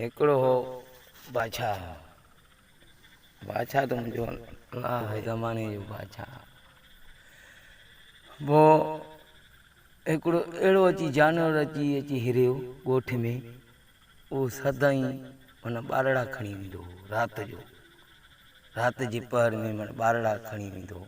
هڪڙو هو بادشاهه. بادشاهه ته منهنجو ناهه زماني جو بادشاهه پوء هڪڙو اهڙو اچي جانور اچي اچي هريو ڳوٺ ۾ اهو سدائين من ٻارڙا کڻي ويندو هو رات جو رات جي پهر ۾ من ٻارڙا کڻي ويندو هو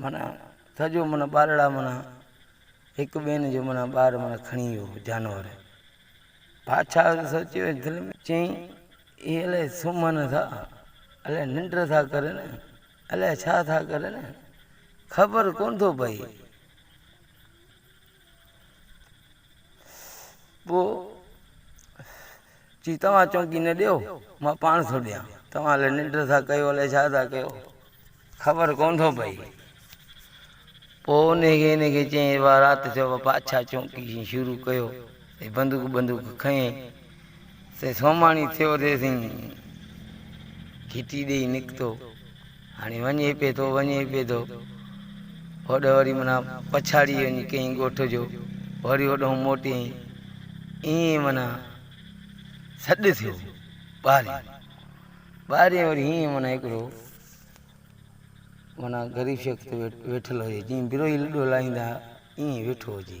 معنيٰ تھ جو معنيٰ ٻارڙا معنيٰ ھڪ ٻين جو معنيٰ ٻار معنيٰ کڻي ويو ھو جانور. بادشاھھ تھ سوچيو ۽ دل ۾ چيائين، اھي الائي سمھن ٿا، الائي ننڊ ٿا ڪرن، الائي ڇا ٿا ڪرن، خبر ڪونھ ٿو پئي. پوء چيس توهان چونڪي نه ڏيو، مان پاڻ ٿو ڏيان. توهان الائي ننڊ ٿا ڪيو، الائي ڇا ٿا ڪيو، خبر ڪونه ٿو پئي. پوء انهي کي انهي کي چيائين، اها رات ٿيو، اها پاڇا چونڪي شروع ڪيو. هي بندوق بندوق کنئين. سائين سوماڻي ٿيو ته سائين گهٽي ڏيئي نڪتو هاڻي وڃي پئي ٿو وڃي پئي ٿو هوڏ وري منا پڇاڙي وڃي ڪئين ڳوٺ جو وري هوڏهون موٽي ائين منا سڏ ٿيو ٻارين ٻارين وري هيئن منا هڪڙو منا غريب شخص ويٺل هجي جيئن بروهي لڏو لائيندا ائين ويٺو هجي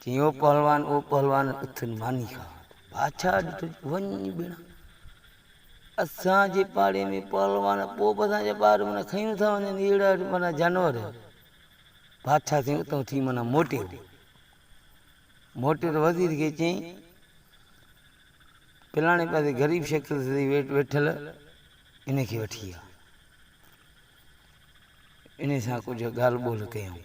چيائين او پهلوان او پهلوان اٿن ماني کاء. بادشاهه ڏٺو چيو وڃ ٻيڻا اسان جي پاڙي ۾ پهلوان پوء به اسان جا ٻار معنيٰ کيون ٿا وڃن اهڙا معنيٰ جانور بادشاهه سائين اتان اٿي معنيٰ موٽيو موٽيو ته وزير کي چيائين پلاڻي پاسي غريب شخص ويٺل ان کي وٺي آ انهيء سان ڪجهه ڳالهه ٻولهه ڪيائون.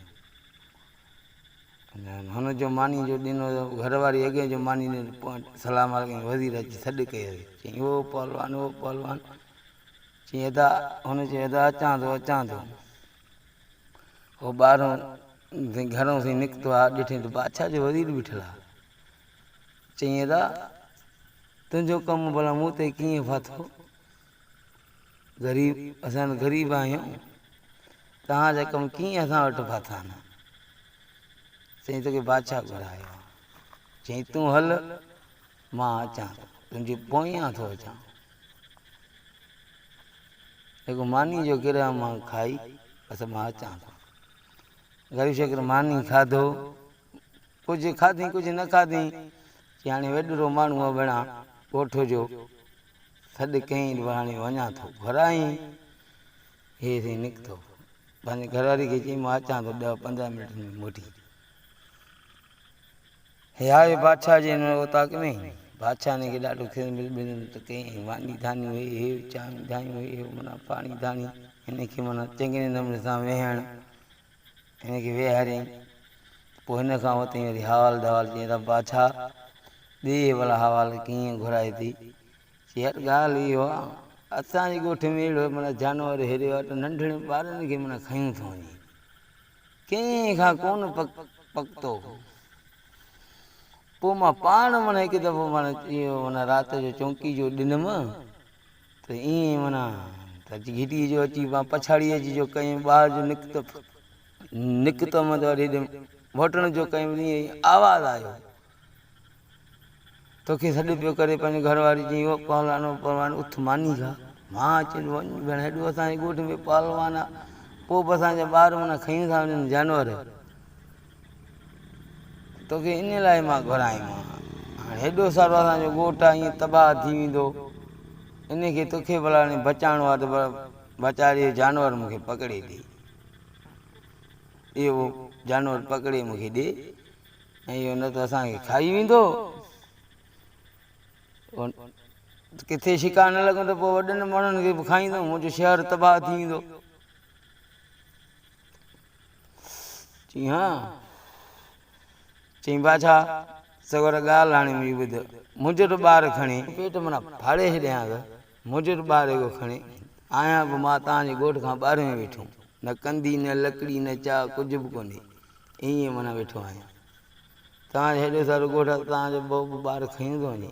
هن جو ماني جو ڏنو ته گهر واري اڳيئي جو ماني ڏنو ته پوء سلام عليڪم ڪيائين. وزير اچي سڏ ڪيو هيس. چيائين او پهلوان، او پهلوان! چيائين ادا، هن چيو ادا اچان ٿو، اچان ٿو. هو ٻاهرون سائين گهرون سائين نڪتو آ، ڏٺئي ته بادشاهه جو وزير بيٺل آ. چيائين ادا، تنهنجو ڪم ڀلا مون تي ڪيئن ڦاٿو؟ غريب اسان غريب آهيون توهان جا ڪم ڪيئن اسان وٽ ڦاٿا آهن چئي توکي بادشاهه گهرايو چئي تون هل مان اچان ٿو تنهنجي پويان ٿو اچان هڪ ماني جو گرهه مان کائي بس مان اچان ٿو غريب شڪر ماني کاڌو ڪجهه کاڌي ڪجهه نه کاڌي چي هاڻي وڏرو ماڻهو بڻا ڳوٺ جو سڏ ڪيائين ته هاڻي وڃان ٿو. گهرائين هيس ۽ نڪتو. پنهنجي گهرواري کي چيائين مان اچان ٿو ڏهه پندرهن منٽن ۾ موٽي. هي آيو بادشاهه جي هن اوطاق ۾. بادشاهه هن کي ڏاڍو خذمت بذمت ڪيائين ۽ ماني ڌانيون هي هيو چانهيون ڌانيون هي هيو معنيٰ پاڻي ڌاني هن کي معنيٰ چڱي نموني سان ويهڻ هن کي ويهاريائين. پوء هن کان ورتائين وري حوال دحوال چيائين ته بادشاهه ڏي ڀلا حوال ڪيئن گهرائي ٿي؟ چي هٽ ڳالهه اهو آ اسان جي ڳوٺ ۾ اهڙو معنيٰ جانور هيريو آ ته ننڍڙين ٻارن کي معنيٰ کنيون ٿو وڃي. ڪنهن کان ڪونه پڪتو. پوء مان پاڻ معنيٰ هڪ دفعو معنيٰ اهو معنيٰ رات جو چونڪي جو ڏنم. ته ائين معنيٰ ته گهٽيء جو اچي مان پڇاڙيء جي جو ڪيم، ٻاهر جو نڪتم نڪتم ته وري هيڏي موٽڻ جو ڪيم ته ائين آواز آيو، توکي سڏ پيو ڪري پنهنجي گهر واري چيائين، او پهلوان او پهلوان اٿ ماني کاء. مان اچي وڃ ڀيڻ هيڏو اسان جي ڳوٺ ۾ پهلوان آ، پوء به اسان جا ٻار معنيٰ کيون ٿا وڃن جانور. توکي انهيء لاء مان گهرايو آهيان. هاڻ هيڏو سارو اسان جو ڳوٺ آهي ائين تباهه ٿي ويندو. انهيء کي توکي ڀلا هاڻي بچائڻو آهي ته پر ويچاري اهو جانور مون کي پڪڙي ڏي. اهو جانور پڪڙي مون کي ڏي ۽ اهو نه ته اسان کي کائي ويندو. ڪٿي شڪار نه لڳندو ته پوء وڏن ماڻهن کي به کائيندو. منهنجو شهر تباهه ٿي ويندو. چيائين، ها! چيائين، بادشاهه! سڳورا ڳالهه هاڻي منهنجي ٻڌ، منهنجو ته ٻار کڻي پيٽ مان ڦاڙي ڇڏيانء، منهنجو ته ٻار هيڪو کڻي آهيان به مان توهان جي ڳوٺ کان ٻاهر ۾ ويٺو، نه ڪنڌي، نه لڪڙي، نه چاء، ڪجهه به ڪونهي، ائين معنيٰ ويٺو آهيان. توهان جو هيڏو سارو ڳوٺ آهي ته توهان جو بهو به ٻار کڻي ٿو وڃي.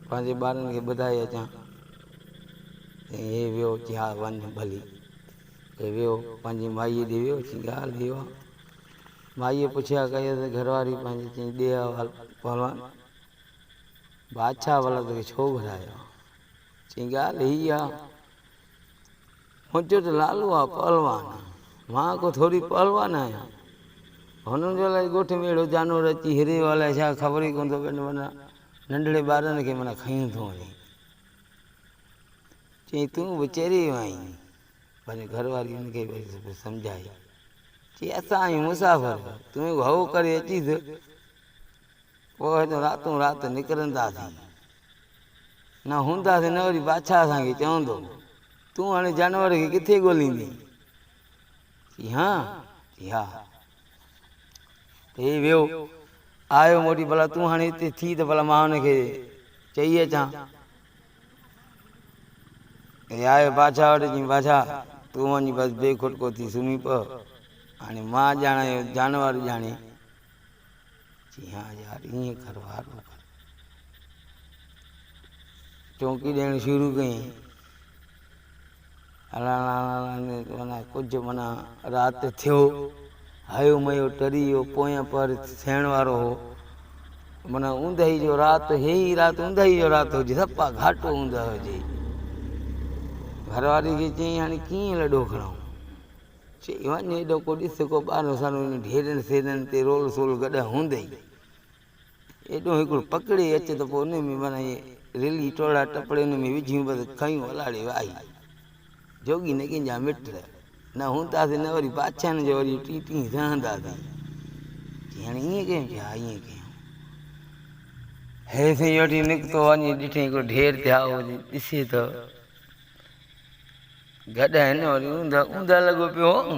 پنهنجي ٻارن کي ٻڌائي اچان. چيائين هي ويو. چي ها وڃ ڀلي. هي ويو پنهنجي مائيء ڏي ويو. چيائين ڳالهه هيء آ. مائيء پڇيا ڪيس ته گهرواري پنهنجي چيائين ڏي احوال پهلوان بادشاهه ولد کي ڇو گهرايو آ؟ چيائين ڳالهه هيء آ منهنجو ته لالو آ پهلوان آ. مان ڪو ٿوري پهلوان آهيان. هنن جو الائي ڳوٺ ۾ اهڙو جانور اچي هريو الائي ڇا خبر ئي ڪونه ٿو پئي ننڍڙي ٻارڙن کي معنيٰ کنيون ٿو وڃي. چيائين تون به چري ويو آهين. پنهنجي گهر واري ان کي به سمجهائي. چي اسان آهيون مسافر تون هڪ هو ڪري اچيس پوء هتان راتون رات نڪرنداسين. نه هونداسين نه وري بادشاهه اسان کي چوندو. تون هاڻي جانور کي ڪٿي ڳوليندين؟ چي هان؟ چي ها. هي ويو، آيو موٽي، ڀلا تون هاڻي هتي ٿي ته ڀلا مان هن کي چئي اچان. هي آيو بادشاهه وٽ، چيائين بادشاهه تون وڃ بس بي کٽڪو ٿي سمهي پء، هاڻي مان ڄاڻان اهو جانور ڄاڻي. چي ها يار ائين ڪر وارو ڪر. چونڪي ڏيڻ شروع ڪيائين. هلڻ هلڻ ۾ معنيٰ ڪجهه معنيٰ رات ٿيو، هيو ميو ٽري ويو، پويان پهر ٿيڻ وارو هو، معنيٰ اوندهي جو رات هي ئي رات اوندهي جو رات هجي، سپا گهاٽو اوندهه هجي. گهر واري کي چيائين هاڻي ڪيئن لڏو کڻائون؟ چي وڃ هيڏو ڪو ڏس ڪو ٻارهن سالون ڍيرن سيرن تي رول سول گڏهه هوندئي. ايڏو هڪڙو پڪڙي اچ ته پوء انهي ۾ معنيٰ اهي رلي ٽوڙا ٽپڙي انهي ۾ وجهيون بس کنيون الاڙي واهي. جوڳي نه ڪنهن جا مٽ نه هونداسين نه وري بادشاهن جو وري ٽين ٽين سهنداسين. چيائين هاڻي ائين ڪيون؟ چيو ها ائين ڪيون. هيء سائين وٺي نڪتو وڃي ڏٺئين هڪڙو ڍير ٿيائو هجي ڏسي ته گڏهن وري اوندهه اوندهه لڳو پيو هو.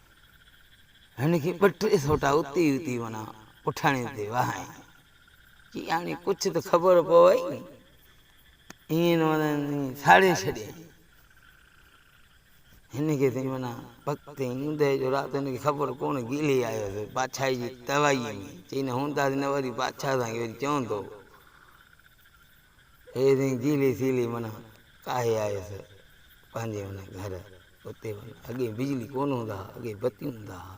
هن کي ٻه ٽي سوٽا اتي ئي اتي معنيٰ پٺاڻي تي وهائين. چي هاڻي ڪجهه ته خبر پوي ني. ائين نه معنيٰ ساڙي ڇڏيائين. هن کي سائين معنيٰ وقت تي اونده جو رات هن کي خبر ڪونه گيلي آيو سو بادشاهي جي توايي ۾. چئي نه هونداسين نه وري بادشاهه اسان کي وري چوندو. هي تنهنجي جيلي سيلي منا ڪاهي آيس پنهنجي ان گهر اتي وڃ اڳي بجلي ڪونه هوندا ها اڳي بتيون هوندا ها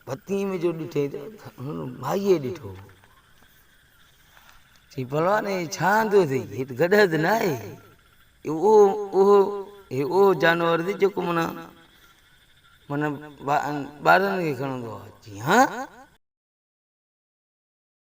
بتي ۾ جو ڏٺي ته هن مائيء ڏٺو چي پلوان هي ڇا آندو اٿئي هيت گڏهه ته نه آهي اهو اهو هي اهو جانور اٿئي جيڪو منا منا ٻارن کي کڻندو آهي جي ها